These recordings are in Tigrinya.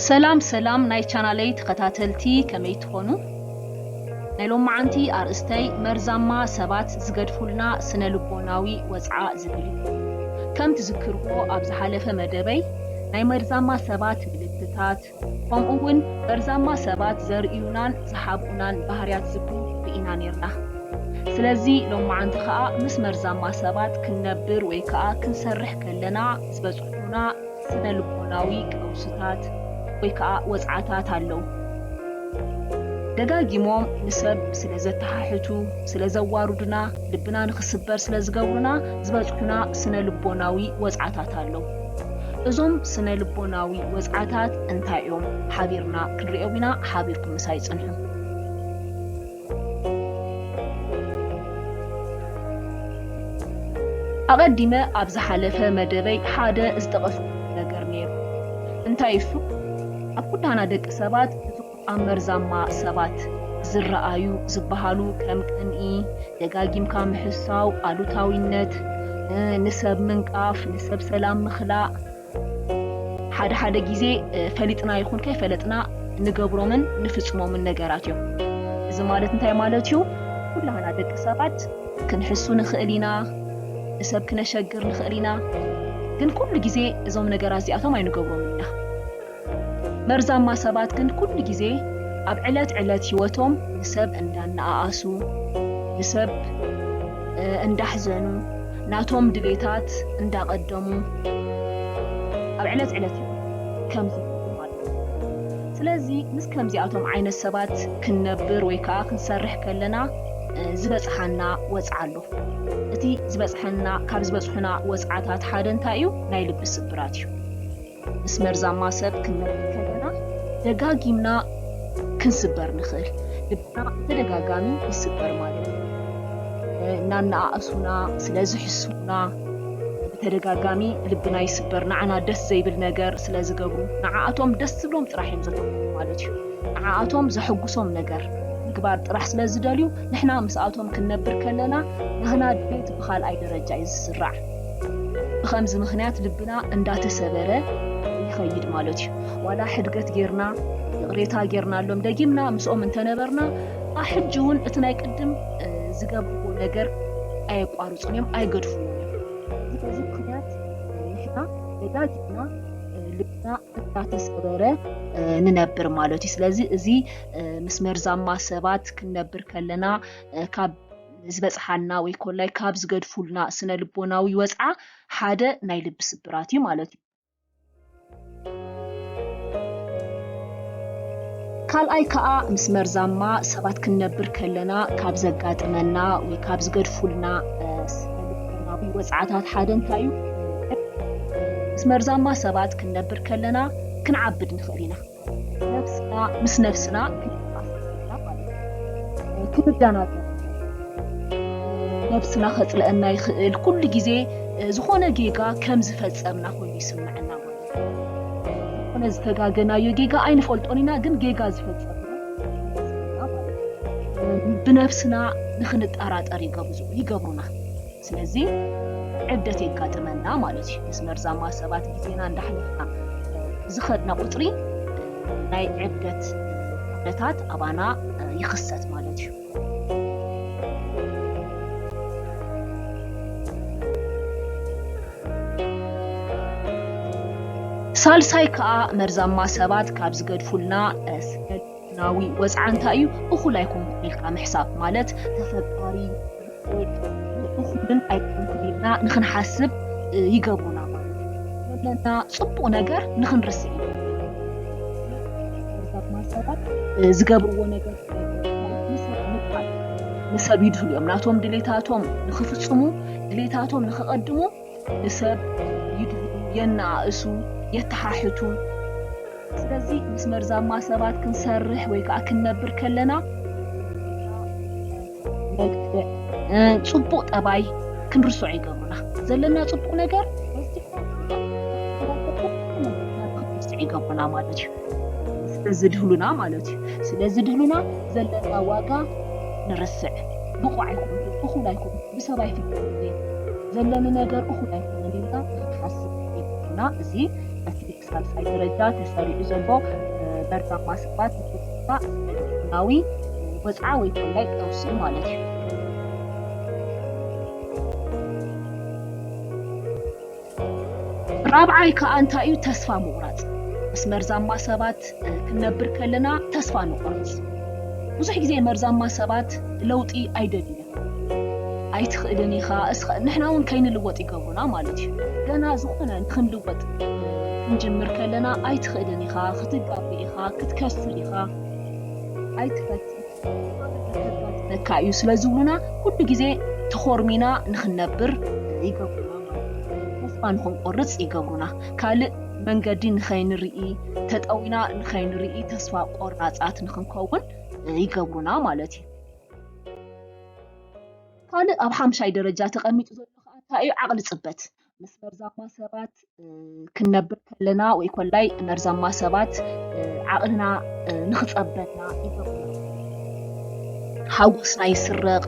ሰላም ሰላም ናይ ቻናለይ ተኸታተልቲ ከመይ ትኾኑ? ናይ ሎማዓንቲ ኣርእስተይ መርዛማ ሰባት ዝገድፉልና ስነ ልቦናዊ ወጽዓ ዝብል እዩ። ከም ትዝክርዎ ኣብ ዝሓለፈ መደበይ ናይ መርዛማ ሰባት ምልክታት፣ ከምኡ'ውን መርዛማ ሰባት ዘርእዩናን ዝሓብኡናን ባህርያት ዝብሉ ርኢና ኔርና። ስለዚ ሎምዓንቲ ከኣ ምስ መርዛማ ሰባት ክንነብር ወይ ከኣ ክንሰርሕ ከለና ዝበጽሑና ስነ-ልቦናዊ ቀውስታት ወይ ከኣ ወጽዓታት ኣለዉ። ደጋጊሞም ንሰብ ስለ ዘተሓሕቱ፣ ስለ ዘዋሩዱና፣ ልብና ንኽስበር ስለ ዝገብሩና ዝበጽሑና ስነ-ልቦናዊ ወጽዓታት ኣለዉ። እዞም ስነ ልቦናዊ ወጽዓታት እንታይ እዮም? ሓቢርና ክንርእዮም ኢና፣ ሓቢርኩም ምሳይ ጽንሑ። ኣቐዲመ ኣብ ዝሓለፈ መደበይ ሓደ ዝጠቐስኩዎ ነገር ነይሩ። እንታይ እሱ? ኣብ ኩላህና ደቂ ሰባት፣ ኣብ መርዛማ ሰባት ዝረኣዩ ዝበሃሉ ከም ቅንኢ፣ ደጋጊምካ ምሕሳው፣ ኣሉታዊነት፣ ንሰብ ምንቃፍ፣ ንሰብ ሰላም ምኽላእ፣ ሓደ ሓደ ግዜ ፈሊጥና ይኹን ከይፈለጥና እንገብሮምን እንፍጽሞምን ነገራት እዮም። እዚ ማለት እንታይ ማለት እዩ? ኩላህና ደቂ ሰባት ክንሕሱ ንኽእል ኢና፣ ንሰብ ክነሸግር ንኽእል ኢና፣ ግን ኩሉ ግዜ እዞም ነገራት እዚኣቶም ኣይንገብሮምን ኢና። መርዛማ ሰባት ግን ኩሉ ግዜ ኣብ ዕለት ዕለት ሂወቶም ንሰብ እንዳነኣኣሱ፣ ብሰብ እንዳሕዘኑ፣ ናቶም ድሌታት እንዳቀደሙ ኣብ ዕለት ዕለት ሂወቶም ከም ዝነብሩ ኣለዉ። ስለዚ ምስ ከምዚኣቶም ዓይነት ሰባት ክንነብር ወይ ከኣ ክንሰርሕ ከለና ዝበጽሓና ወጽዓ ኣሎ። እቲ ዝበጽሐና ካብ ዝበጽሑና ወጽዓታት ሓደ እንታይ እዩ? ናይ ልቢ ስብራት እዩ። ምስ መርዛማ ሰብ ክንነብር ከለና ደጋጊምና ክንስበር ንኽእል። ልብና ብተደጋጋሚ ይስበር ማለት እዩ። እናነኣእሱና ስለ ዝሕስዉና ብተደጋጋሚ ልብና ይስበር። ንዓና ደስ ዘይብል ነገር ስለ ዝገብሩ ንዓኣቶም ደስ ዝብሎም ጥራሕ እዮም ዘተኩሩ ማለት እዩ። ንዓኣቶም ዘሐጉሶም ነገር ምግባር ጥራሕ ስለ ዝደልዩ ንሕና ምስኣቶም ክንነብር ከለና ናህና ድሌት ብኻልኣይ ደረጃ እዩ ዝስራዕ። ብኸምዚ ምኽንያት ልብና እንዳተሰበረ ይኸይድ ማለት እዩ። ዋላ ሕድገት ጌርና ይቕሬታ ጌርናሎም ደጊምና ምስኦም እንተነበርና ኣ ሕጂ እውን እቲ ናይ ቅድም ዝገብርዎ ነገር ኣየቋርጹን እዮም ኣይገድፍዎን እዮም። በዚ ምኽንያት ንሕና ደጋጊምና ልብና እንዳተሰበረ ንነብር ማለት እዩ። ስለዚ እዚ ምስ መርዛማ ሰባት ክንነብር ከለና ካብ ንዝበጽሓና ወይ ኮላይ ካብ ዝገድፉልና ስነ ልቦናዊ ወጽዓ ሓደ ናይ ልቢ ስብራት እዩ ማለት እዩ። ካልኣይ ከኣ ምስ መርዛማ ሰባት ክንነብር ከለና ካብ ዘጋጥመና ወይ ካብ ዝገድፉልና ስነ ልቦናዊ ወጽዓታት ሓደ እንታይ እዩ? ምስ መርዛማ ሰባት ክንነብር ከለና ክንዓብድ ንኽእል ኢና። ነብስና ምስ ነብስና ክንተኣሳሰረና ማለት ክንዳናገር ነብስና ከጽልአና ይኽእል ኩሉ ግዜ ዝኾነ ጌጋ ከም ዝፈጸምና ኮይኑ ይስምዐና ማለት ዝኾነ ዝተጋገናዮ ጌጋ ኣይንፈልጦን ኢና ግን ጌጋ ዝፈጸም ብነብስና ንኽንጠራጠር ይገብሩና ስለዚ ዕብደት የጋጥመና ማለት እዩ። ምስ መርዛማ ሰባት ግዜና እንዳሕለፍና ብዝኸድና ቁጽሪ ናይ ዕብደት ኩነታት ኣባና ይኽሰት ማለት እዩ። ሳልሳይ ከኣ መርዛማ ሰባት ካብ ዝገድፉልና ስነ ናዊ ወጽዓ እንታይ እዩ እኹል ኣይኮንኩን ኢልካ ምሕሳብ ማለት ተፈጣሪ እኹልን ኣይኮንኩን ኢልና ንክንሓስብ ይገብሩና ማለት ዘለና ጽቡቅ ነገር ንክንርስዕ ዝገብርዎ ነገር ንሰብ ይድህሉ እዮም ናቶም ድሌታቶም ንክፍጽሙ ድሌታቶም ንክቀድሙ ንሰብ ይድህዩ፣ የነኣእሱ፣ የተሓሕቱ። ስለዚ ምስ መርዛማ ሰባት ክንሰርሕ ወይ ከኣ ክንነብር ከለና ነግጥዕ ጽቡቕ ጠባይ ክንርስዖ ይገብሩና። ዘለና ጽቡቕ ነገር ክንርስዕ ይገብሩና ማለት እዩ። ስለ ዝድህሉና ማለት እዩ። ስለ ዝድህሉና ዘለና ዋጋ ንርስዕ። ብቑዕ ኣይኮንኩን፣ እኹል ኣይኮንኩን፣ ብሰብ ኣይፍለጥን እየ፣ ዘለኒ ነገር እኹል ኣይኮነን ኢልካ ክትሓስብ የብሉና። እዚ በቲ ብሳልሳይ ደረጃ ተሰሪዑ ዘሎ መርዛ ማስክባት ንፖለቲካ ኢኮኖሚያዊ ወጽዓ ወይ ኮላይ ቀውሲ እዩ ማለት እዩ። ራብዓይ ከኣ እንታይ እዩ ተስፋ ምቑራጽ ምስ መርዛማ ሰባት ክንነብር ከለና ተስፋ ንቑርጽ። ብዙሕ ግዜ መርዛማ ሰባት ለውጢ ኣይደልዩን። ኣይትኽእልን ኢኻ እስኻ ንሕና ውን ከይንልወጥ ይገብሩና ማለት እዩ ገና ዝኾነ ንኽንልወጥ ክንጅምር ከለና ኣይትኽእልን ኢኻ ክትጋገ ኢኻ ክትከስር ኢኻ ኣይትፈትን ነካ እዩ ስለ ዝብሉና ኩሉ ግዜ ተኾርሚና ንኽንነብር ይገብሩና ተስፋ ንኽንቆርፅ ይገብሩና ካልእ መንገዲ ንኸይንርኢ ተጠዊና ንኸይንርኢ ተስፋ ቆራፃት ንኽንከውን ይገብሩና ማለት እዩ ካልእ ኣብ ሓምሻይ ደረጃ ተቐሚጡ ዘሎ ከዓ እንታይ እዩ ዓቕሊ ፅበት ምስ መርዛማ ሰባት ክንነብር ከለና ወይ ኮላይ መርዛማ ሰባት ዓቕልና ንኽፀበና ሓጎስና ይስረቕ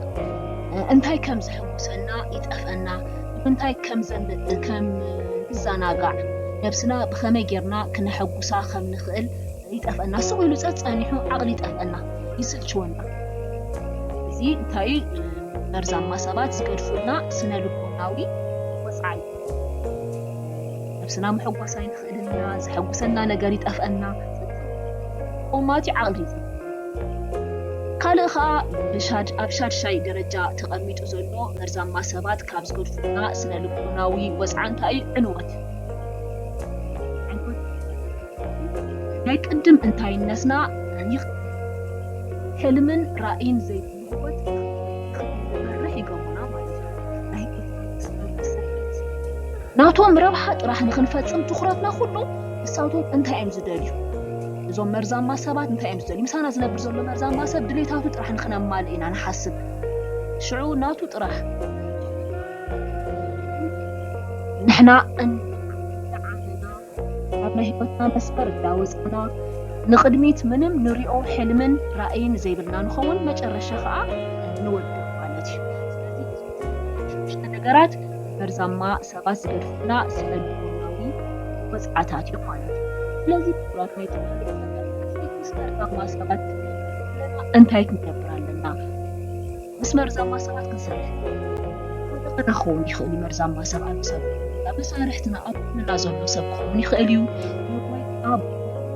እንታይ ከም ዝሕጉሰና ይጠፍአና እንታይ ከም ከም ክዘናጋዕ ነብስና ብኸመይ ጌርና ክነሐጉሳ ከም ንኽእል ይጠፍኣና ስቅ ኢሉ ጸጸኒሑ ዓቅሊ ይጠፍኣና ይስልችወና። እዚ እንታይ እዩ መርዛማ ሰባት ዝገድፉልና ስነልቦናዊ ወጽዓይ ነብስና መሐጎስ ኣይንኽእልን ኢና ዘሐጉሰና ነገር ይጠፍኣና ቆማት እዩ ዓቅሊ እዩ ካልእ ኸኣ ኣብ ሻድሻይ ደረጃ ተቐሚጡ ዘሎ መርዛማ ሰባት ካብ ዝገድፉና ስነ ልቦናዊ ወፅዓ እንታይ እዩ ዕንወት ናይ ቅድም እንታይነትና ታሪኽ ሕልምን ራእይን ዘይብሉ ህይወት ክንመርሕ ይገብሩና ማለት እዩ። ናይ ናቶም ረብሓ ጥራሕ ንክንፈፅም ትኹረትና ኩሉ ንሳቶም እንታይ እዮም ዝደልዩ እዞም መርዛማ ሰባት እንታይ እዮም ዝደልዩ ምሳና ዝነብር ዘሎ መርዛማ ሰብ ድሌታቱ ጥራሕ ንክነማልእ ኢና ንሓስብ ሽዑ ናቱ ጥራሕ ንሕና ካብ ናይ ህይወትና መስመር እንዳወጻና ንቕድሚት ምንም ንሪኦ ሕልምን ራእይን ዘይብልና ንኸውን፣ መጨረሻ ከኣ ንወድቕ ማለት እዩ። ስለዚ ነገራት መርዛማ ሰባት ዝገድፉልና ስነልቦናዊ ወጽዓታት እዮም ማለት እዩ። ስለዚ ክቡራት ናይ ተዋህዶ ተኸታተልቲ ምስ መርዛማ ሰባት ክንነብር ከለና እንታይ ክንገብር ኣለና? ምስ መርዛማ ሰባት ክንሰርሕ እንከለና ኩሉና ክኸውን ይኽእል እዩ መርዛማ ሰብ ኣሎ ሰብ ዘይብሉና መሳርሕትና ኣብ ጎንና ዘሎ ሰብ ክኸውን ይኽእል እዩ ንወይ ኣቦ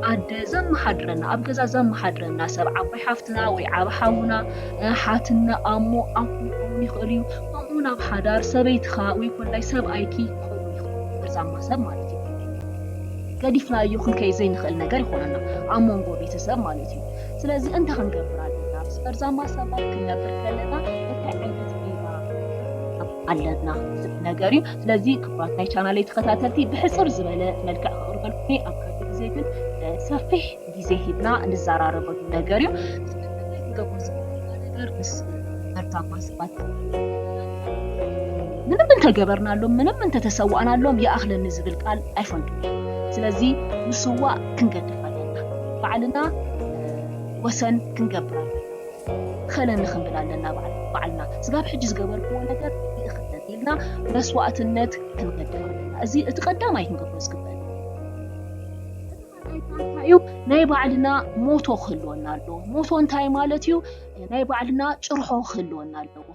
ኣደ ዘመሓድረና ኣብ ገዛ ዘመሓድረና ሰብ ዓባይ ሓፍትና ወይ ዓቢ ሓውና ሓትነ ኣሞ ኣኩ ክኸውን ይኽእል እዩ ከምኡውን ኣብ ሓዳር ሰበይትኻ ወይ ኮላይ ሰብኣይኪ ክኸውን ይኽእል መርዛማ ሰብ ማለት ገዲፍናዮ ክንከይድ ዘይንኽእል ነገር ይኾነና ኣብ መንጎ ቤተሰብ ማለት እዩ ስለዚ እንታይ ክንገብር ኣለና? ምስ መርዛማ ሰባት ክንነብር ከለና እንታይ ዓይነት ሜላ ክንጥቀም ኣለና? ዝብል ነገር እዩ። ስለዚ ክቡራት ናይ ቻናለይ ተኸታተልቲ ብሕጽር ዝበለ መልክዕ ክቕርበልኩም እየ። ኣብ ካልእ ግዜ ግን ሰፊሕ ግዜ ሂብና ንዘራረበሉ ነገር እዩ። ስለምንታይ ክንገብሮ ዝግብኣና ነገር ምስ መርዛማ ሰባት ምንም እንተገበርናሎም ምንም እንተተሰዋእናሎም ይኣኽለኒ ዝብል ቃል ኣይፈልጡን እዮም። ስለዚ ምስዋእ ክንገድፍ ባዕልና ወሰን ክንገብር ኣለና እኸለኒ ክንብል ኣለና ባዕልና ስጋብ ሕጂ ዝገበርክዎ ነገር ይእኽለኒ ኢልና መስዋእትነት ክንገድፍ ኣለና እዚ እቲ ቀዳማይ ክንገብሮ ዝግበ እዩ ናይ ባዕልና ሞቶ ክህልወና ኣለዎ ሞቶ እንታይ ማለት እዩ ናይ ባዕልና ጭርሖ ክህልወና ኣለዎ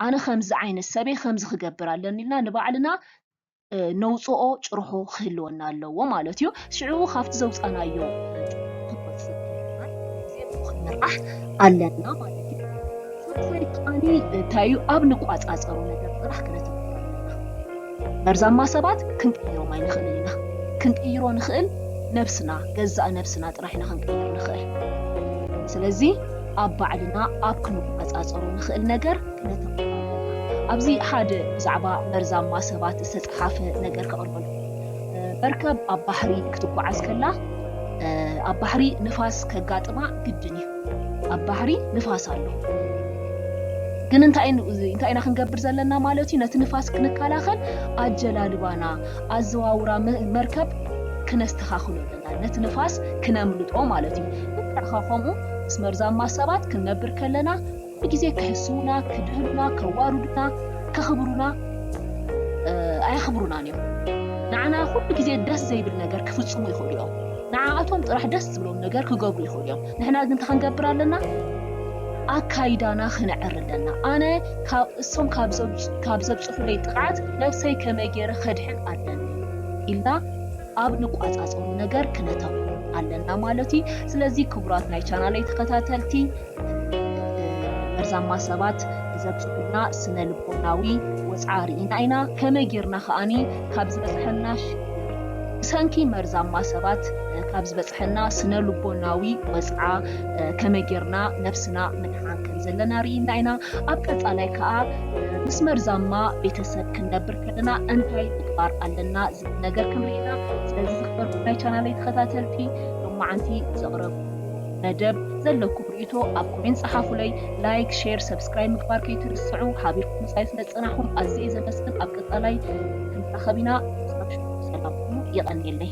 ኣነ ከምዚ ዓይነት ሰበይ ከምዚ ክገብር ኣለኒ ኢልና ንባዕልና ነውጽኦ ጭርሖ ክህልወና ኣለዎ ማለት እዩ። ሽዑ ካብቲ ዘውጻናዮ ክንምራሕ ኣለና ማለት እዩ። ሳልሳይ ከኣኒ እንታይ እዩ ኣብ ንቋጻጸሮ ነገር ጥራሕ ክነተኩር ኣለና። መርዛማ ሰባት ክንቅይሮም ኣይንኽእልን ኢና። ክንቅይሮ ንኽእል ነብስና ገዛእ ነብስና ጥራሕ ኢና ክንቅይር ንኽእል። ስለዚ ኣብ ባዕልና ኣብ ክንቋጻጸሮ ንኽእል ነገር ኣብዚ ሓደ ብዛዕባ መርዛማ ሰባት ዝተጸሓፈ ነገር ከቕርበልኩም እየ። መርከብ ኣብ ባሕሪ ክትጓዓዝ ከላ ኣብ ባሕሪ ንፋስ ከጋጥማ ግድን እዩ። ኣብ ባሕሪ ንፋስ ኣሎ። ግን እንታይ እንታይ ኢና ክንገብር ዘለና ማለት እዩ? ነቲ ንፋስ ክንከላኸል ኣጀላልባና ኣዘዋውራ መርከብ ክነስተኻኽሎ ኣለና። ነቲ ንፋስ ክነምልጦ ማለት እዩ። ልክዕ ከምኡ ምስ መርዛማ ሰባት ክንነብር ከለና ኩሉ ግዜ ከሕስዉና፣ ክድህሉና፣ ከዋርዱና፣ ከኽብሩና ኣየኽብሩናን እዮም። ንዓና ኩሉ ግዜ ደስ ዘይብል ነገር ክፍጽሙ ይኽእሉ እዮም። ንዓኣቶም ጥራሕ ደስ ዝብሎም ነገር ክገብሩ ይኽእሉ እዮም። ንሕና ግን እንታይ ክንገብር ኣለና? ኣካይዳና ክንዕሪ ኣለና። ኣነ ካብ እሶም ካብ ዘብጽሑለይ ጥቕዓት ነብሰይ ከመይ ገይረ ከድሕን ኣለኒ ኢልና ኣብ ንቋጻጸሩ ነገር ክነተኩር ኣለና ማለት እዩ። ስለዚ ክቡራት ናይ ቻናለይ ተኸታተልቲ መርዛማ ሰባት ዘብጽሑልና ስነ ልቦናዊ ወጽዓ ርኢና ኢና፣ ከመይ ጌርና ከኣ ካብ ዝበጽሐና ሽግር ብሰንኪ መርዛማ ሰባት ካብ ዝበጽሐና ስነ ልቦናዊ ወጽዓ ከመይ ጌርና ነብስና ምድሓን ከም ዘለና ርኢና ኢና። ኣብ ቀጻላይ ከኣ ምስ መርዛማ ቤተሰብ ክንነብር ከለና እንታይ ምግባር ኣለና ዝብል ነገር ክንርኢ ኢና። ስለዚ ዝኽበርኩም ናይ ቻናለይ ተኸታተልቲ ሎማዓንቲ ዘቕረብኩ መደብ ዘለኩም ሪኢቶ ኣብ ኮሜንት ጸሓፉለይ ላይክ ሼር ሰብስክራይብ ምግባር ከይትርስዑ ሓቢርኩም ምጻይ ስለ ዝጸናሕኩም ኣዝየ እየ ዘመስግን ኣብ ቀጻላይ ክንራኸብ ኢና ክሳብ ሽዑ ሰላም ኩኑ የቐንየለይ።